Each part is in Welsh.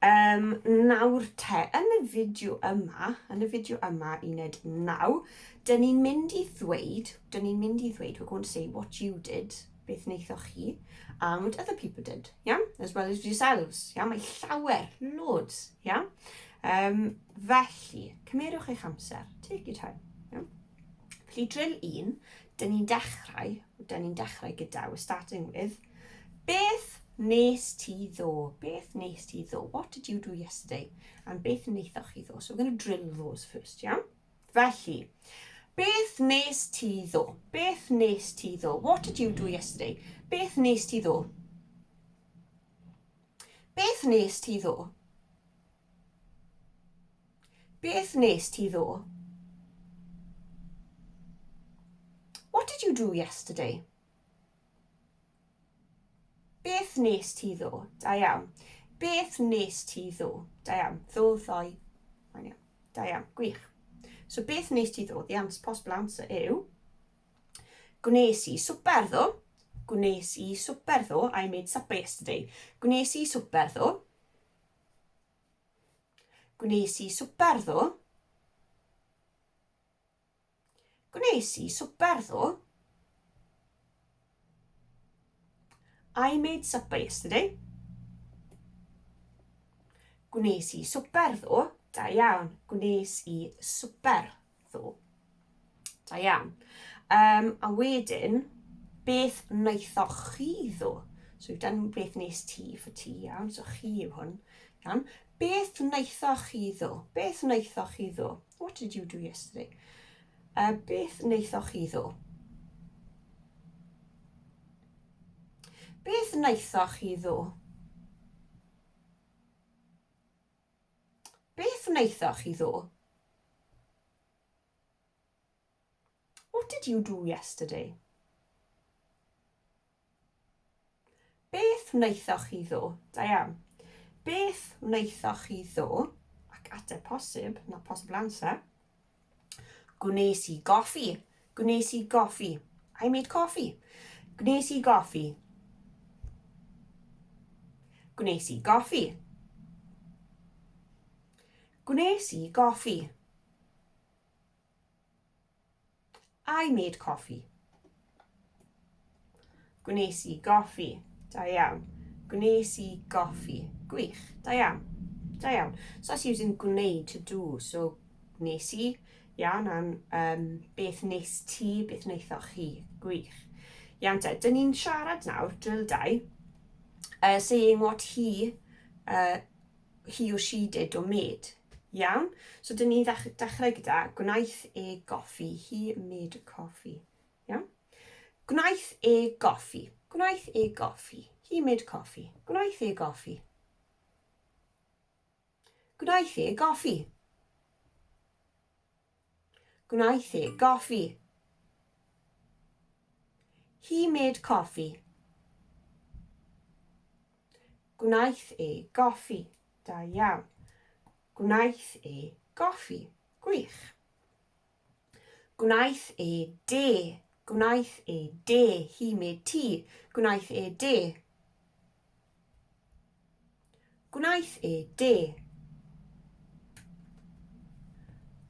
Um, nawr te, yn y fideo yma, yn y fideo yma, uned 9, dyn ni'n mynd i ddweud, dyn ni'n mynd i ddweud, we're going to say what you did, beth wnaethoch chi, and what other people did, yeah? as well as yourselves. Yeah? Mae llawer, loads. Yeah? Um, felly, cymerwch eich amser. Take your time. Yeah? Felly, drill un, dyn ni'n dechrau, dyn ni'n dechrau gyda, we're starting with, Beth nes ti ddo? Beth nes ti ddo? What did you do yesterday? And beth wnaethoch chi ddo? So we're going to drill those first, iawn? Felly, beth nes ti ddo? Beth nes ti ddo? What did you do yesterday? Beth nes ti ddo? Beth nes ti ddo? Beth nes ti ddo? What did you do yesterday? Beth nes ti ddo? Da iawn. Beth nes ti ddo? Da iawn. Ddo, ddoe. Mae'n iawn. Da iawn. Gwych. So beth nes ti ddo? The answer, possible answer yw Gwnes i swper ddo. Gwnes i swper ddo. I made supper yesterday. Gwnes i swper ddo. Gwnes i swper ddo. Gwnes i swper ddo. I made supper yesterday. Gwnes i swper ddo. Da iawn. Gwnes i swper ddo. Da iawn. Um, a wedyn, beth wnaethoch chi ddo? So we've done beth nes ti for ti, iawn. So chi yw hwn. Iawn. Beth wnaethoch chi ddo? Beth wnaethoch chi ddo? What did you do yesterday? Uh, beth wnaethoch chi ddo? Beth wnaethoch chi ddo? Beth wnaethoch chi ddo? What did you do yesterday? Beth wnaethoch chi ddo? Diane, Beth wnaethoch chi ddo? Ac ateb posib, na posibl answer. Gwnes i goffi. Gwnes i goffi. I made coffee. Gwnes i goffi. Gwnes i goffi. Gwnes i goffi. I made coffee. Gwnes i goffi. Da iawn. Gwnes i goffi. Gwych. Da iawn. Da iawn. So that's using gwneud to do. So nes i. Iawn, am um, beth nes ti, beth wnaethoch chi. Gwych. Iawn te, dyn ni'n siarad nawr, drill dau, uh, saying what he uh, he or she did or made. Iawn? So dyn ni dechrau gyda gwnaeth e goffi. He made a coffee. Iawn? Gwnaeth e goffi. Gwnaeth e goffi. He made coffee. Gwnaeth e goffi. Gwnaeth e goffi. Gwnaeth e goffi. He made coffee. Gwnaeth e goffi. Da iawn. Gwnaeth e goffi. Gwych. Gwnaeth e de. Gwnaeth e de. He made tea. Gwnaeth e de. Gwnaeth e de.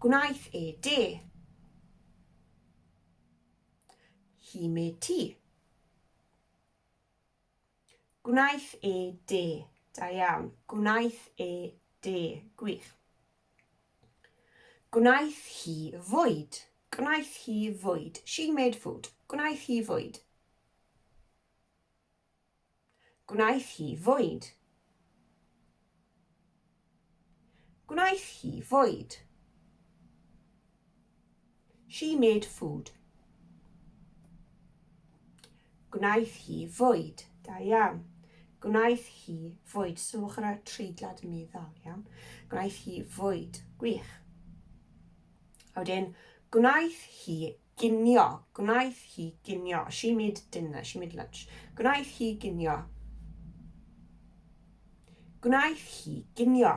Gwnaeth e de. Hi me ti. Gwnaeth e de. Da iawn. Gwnaeth e de. Gwych. Gwnaeth hi fwyd. Gwnaeth hi fwyd. She made food. Gwnaeth hi fwyd. Gwnaeth hi fwyd. Gwnaeth hi fwyd. She made food. Gwnaeth hi fwyd. Da iawn. Gwnaeth hi fwyd. Sylwch ar y treiglad yn meddwl, iawn. Gwnaeth hi fwyd. Gwych. A wedyn, gwnaeth hi Ginio. Gwnaeth hi ginio. She made dinner. She made lunch. Gwnaeth hi ginio. Gwnaeth hi ginio.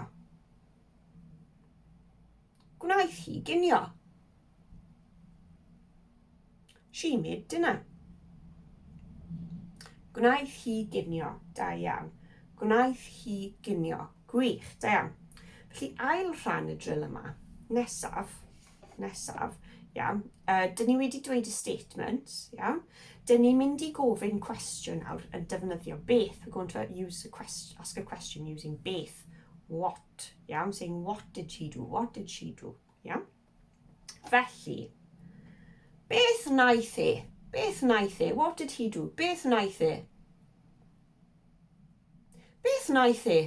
Gwnaeth hi ginio. She made dinner. Gwnaeth hi ginio. Da iawn. Gwnaeth hi ginio. Gwych. Da iawn. Felly ail rhan y drill yma. Nesaf. Peth nesaf, ia, uh, dyn ni wedi dweud y statement, ia, dyn ni'n mynd i gofyn cwestiwn nawr yn defnyddio beth. We're going to use a question, ask a question using beth, what, ia, I'm saying what did she do, what did she do, ia. Felly, beth wnaeth e? Beth wnaeth e? What did he do? Beth wnaeth e? Beth wnaeth e?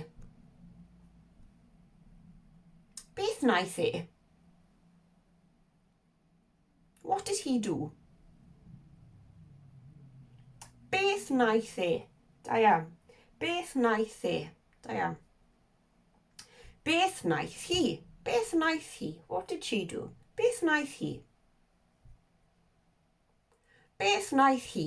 Beth wnaeth e? What did he do? Beth wnaeth e? Da iawn. Beth wnaeth e? Da iawn. Beth wnaeth hi? Beth wnaeth hi? What did she do? Beth wnaeth hi? Beth wnaeth hi?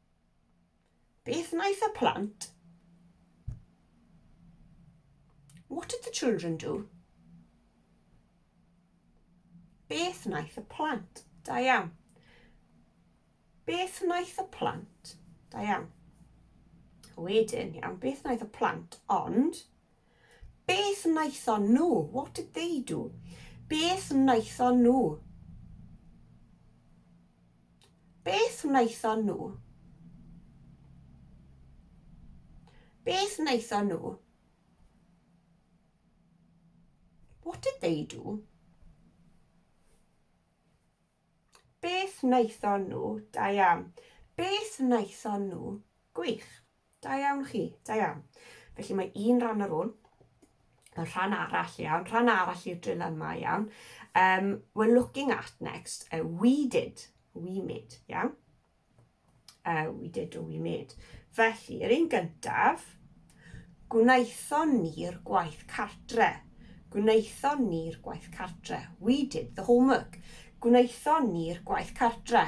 Beth wnaeth y plant? What did the children do? Beth wnaeth y plant? Da iawn. Beth wnaeth y plant? Da iawn. Wedyn, iawn, beth wnaeth y plant? Ond, beth wnaethon nhw? What did they do? Beth wnaethon nhw? Beth wnaethon nhw? Beth wnaethon nhw? What did they do? Beth wnaethon nhw? Da iawn. Beth wnaethon nhw? Gwych. Da iawn chi, da iawn. Felly mae un rhan ar ôl, y rhan arall iawn, rhan arall i'r drill yma iawn. Um, we're looking at next, uh, we did, we made, iawn. Uh, we did or we made. Felly, yr un gyntaf, gwnaethon ni'r gwaith cartre. Gwnaethon ni'r gwaith cartre. We did the homework. Gwnaethon ni'r gwaith cartre.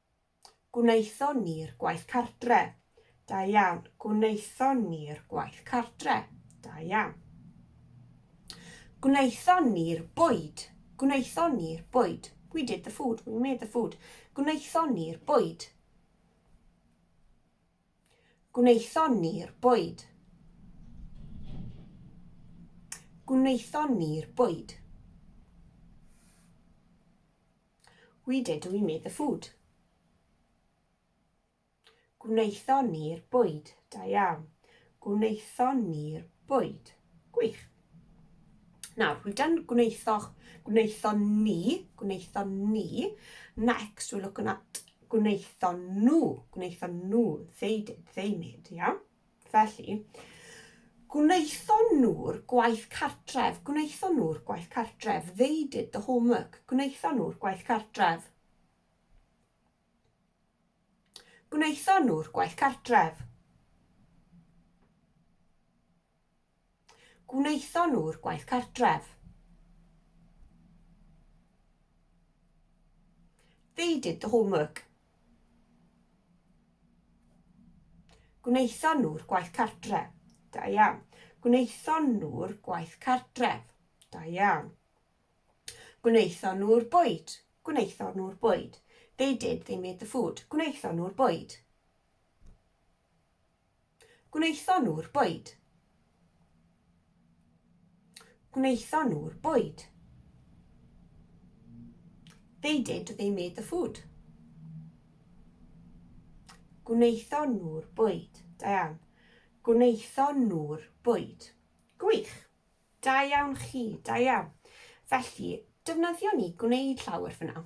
Gwnaethon ni'r gwaith cartre. Da iawn. Gwnaethon ni'r gwaith cartre. Da iawn. Gwnaethon ni'r bwyd. Gwnaethon ni'r bwyd. We did the food. We made the food. Gwnaethon ni'r bwyd. Gwnaethon ni'r bwyd. Gwnaethon ni'r bwyd. We did, we made the food. Gwnaethon ni'r bwyd. Da iawn. Gwnaethon ni'r bwyd. Gwych. Nawr, we've done gwnaethoch, gwnaethon ni, gwnaethon ni. Next, we're looking at gwnaethon nhw, gwnaethon nhw. They did, they made, iawn. Felly, gwnaethon nhw'r gwaith cartref, gwnaethon nhw'r gwaith cartref, they did the homework, gwnaethon nhw'r gwaith cartref. Gwnaethon nhw'r gwaith cartref. Gwnaethon nhw'r gwaith cartref. They did the homework. Gwnaethon nhw'r gwaith cartref. Da iawn. Gwnaethon nhw'r gwaith cartref. Da iawn. Gwnaethon nhw'r bwyd. Gwnaethon nhw'r bwyd. They did, they made the food. Gwnaethon nhw'r bwyd. Gwnaethon nhw'r bwyd. Gwnaethon nhw'r bwyd. They did, they made the food. Gwnaethon nhw'r bwyd. Da iawn. Gwnaethon nhw'r bwyd. Gwych. Da iawn chi, da iawn. Felly, defnyddio ni gwneud llawer fyna.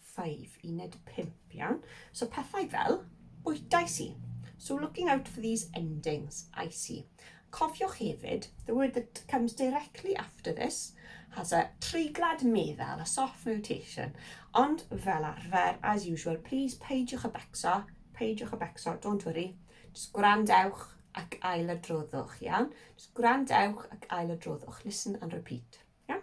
5, uned 5, iawn. So pethau fel, bwytais i. So looking out for these endings, I see. Cofiwch hefyd, the word that comes directly after this has a treiglad meddal, a soft notation. Ond fel arfer, as usual, please peidiwch y becso, peidiwch y becso, don't worry. Just gwrandewch ac ail adroddwch, iawn? Just gwrandewch ac ail adroddwch. Listen and repeat, iawn?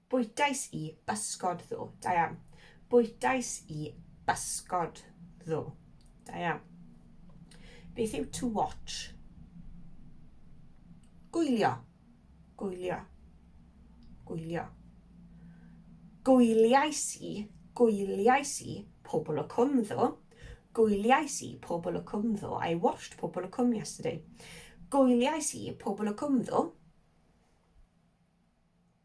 Bwytais i bysgod ddo. Da iawn. Bwytais i bysgod ddo. Da iawn. Beth yw to watch? Gwylio. Gwylio. Gwylio. Gwyliais i, gwyliais i pobl o cwm ddo. Gwyliais i pobl o cwm ddo. I watched pobl o cwm yesterday. Gwyliais i pobl o cwm ddo.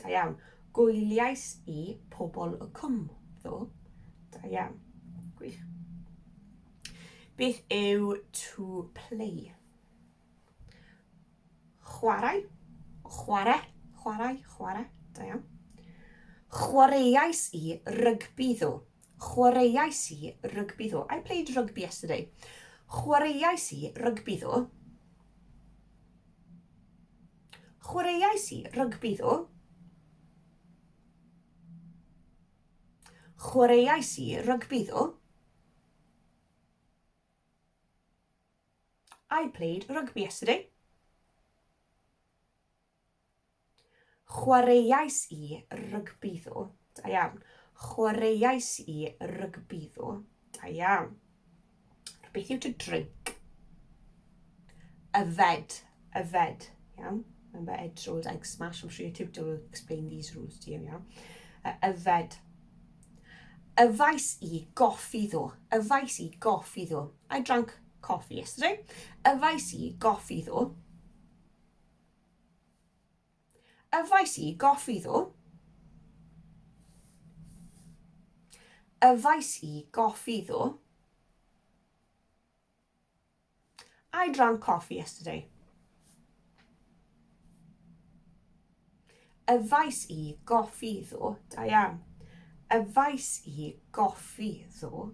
Da iawn. Gwyliais i pobl y cwm, ddo. Da iawn. Gwych. Beth yw to play? Chwarae. Chwarae. Chwarae. Chwarae. Da iawn. Chwaraeais i rygbi ddo. Chwaraeais i rygbi ddo. I played rugby yesterday. Chwaraeais i rygbi ddo. Chwaraeais i rygbi ddo. Chwaraeais i rygbi ddo. I played rugby yesterday. Chwaraeais i rygbi ddo. Da iawn. Chwaraeais i rygbi ddo. Da iawn. Beth yw to drink? Yfed, yfed, iawn? Remember Ed Rolled Egg Smash, I'm sure your tutor will explain these rules to you, iawn? Uh, yfed. Yfais i goffi ddo, yfais i goffi ddo. I drank coffee yesterday. Yfais i goffi ddo. Yfais i goffi ddo. Yfais i goffi ddo. I drank coffee yesterday. Yfais i goffi ddo, da iawn. Yfais i goffi ddo,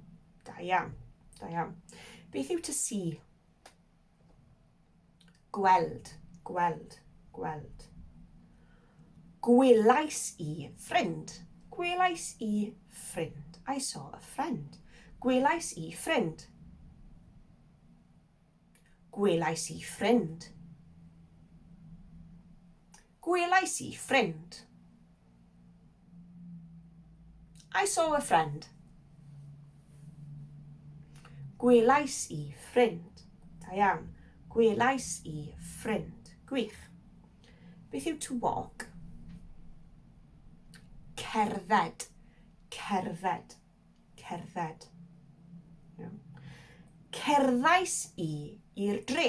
da iawn. Da iawn. Beth yw to see? Gweld, gweld, gweld. Gwelais i ffrind. Gwelais i ffrind. I saw a friend. Gwelais i ffrind. Gwelais i ffrind. Gwelais i ffrind. I saw a friend. Gwelais i ffrind. Da iawn. Gwelais i ffrind. Gwych. Beth yw to walk? Cerdded. Cerdded. Cerdded. Cerddais i i'r dre.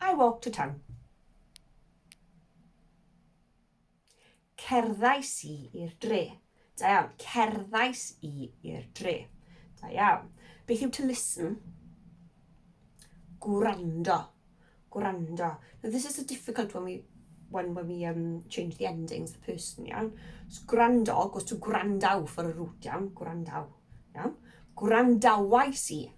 I walk to town. Cerddais i i'r dre. Da iawn. Cerddais i i'r dre. Da iawn. Beth yw to listen? Gwrando. Gwrando. Now this is a difficult one we when, when we um, change the endings, the person, iawn. So, gwrando goes to gwrandaw for a root, iawn. Gwrandaw, iawn. Gwrandawais i.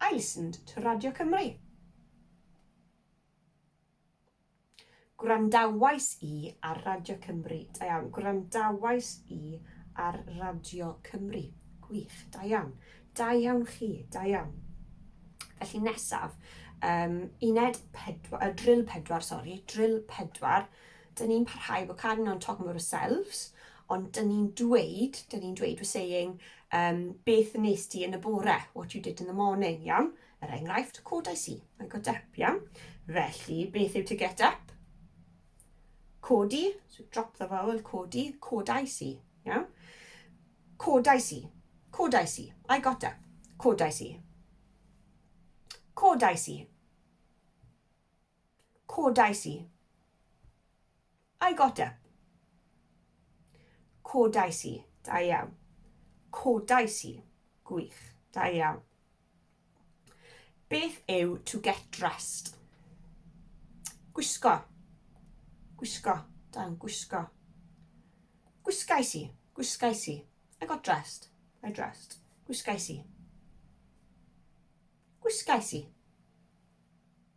I listened to Radio Cymru. Gwrandawais i ar Radio Cymru. Da iawn. Gwrandawais i ar Radio Cymru. Gwych. Da iawn. Da iawn chi. Da iawn. Felly nesaf, um, uned pedwar, uh, drill pedwar, sori, drill pedwar, Dyn ni'n parhau, we're carrying on talking about ourselves, ond dyn ni'n dweud, dyn ni'n dweud, we're saying, um, beth nes di yn y bore, what you did in the morning, iawn? Er enghraifft, codais i, I got up, iawn? Felly, beth yw to get up? Codi, so drop the vowel, codi, codais i, iawn? Codais i, codais i, I got up, codais i. Codais i. Codais i. I got up. Codais i. Da iawn. Codais i. Gwych. Da iawn. Beth yw to get dressed? Gwisgo. Gwisgo. Dan gwisgo. Gwisgais i. Gwisgais i. I got dressed. I dressed. Gwisgais i. Gwisgais i.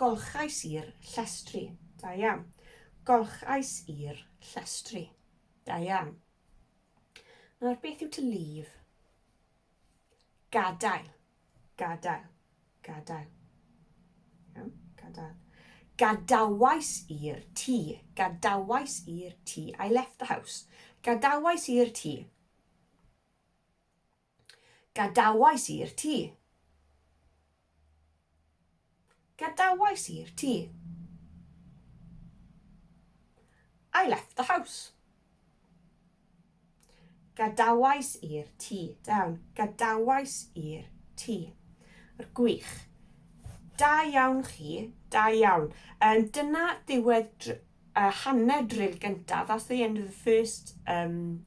Golchais i'r llestri. Da iawn. Golchais i'r llestri. Da iawn. Nawr, beth yw to leave? Gadael. Gadael. Gadael. Iawn, gadael. Gadawais i'r tŷ. Gadawais i'r tŷ. I left the house. Gadawais i'r tŷ. Gadawais i'r tŷ. Gadawais i'r tŷ. I left the house. Gadawais i'r tŷ. Down. Gadawais i'r tŷ. Yr gwych. Da iawn chi. Da iawn. Um, dyna ddiwedd uh, hanner drill gyntaf. That's the end of the first um,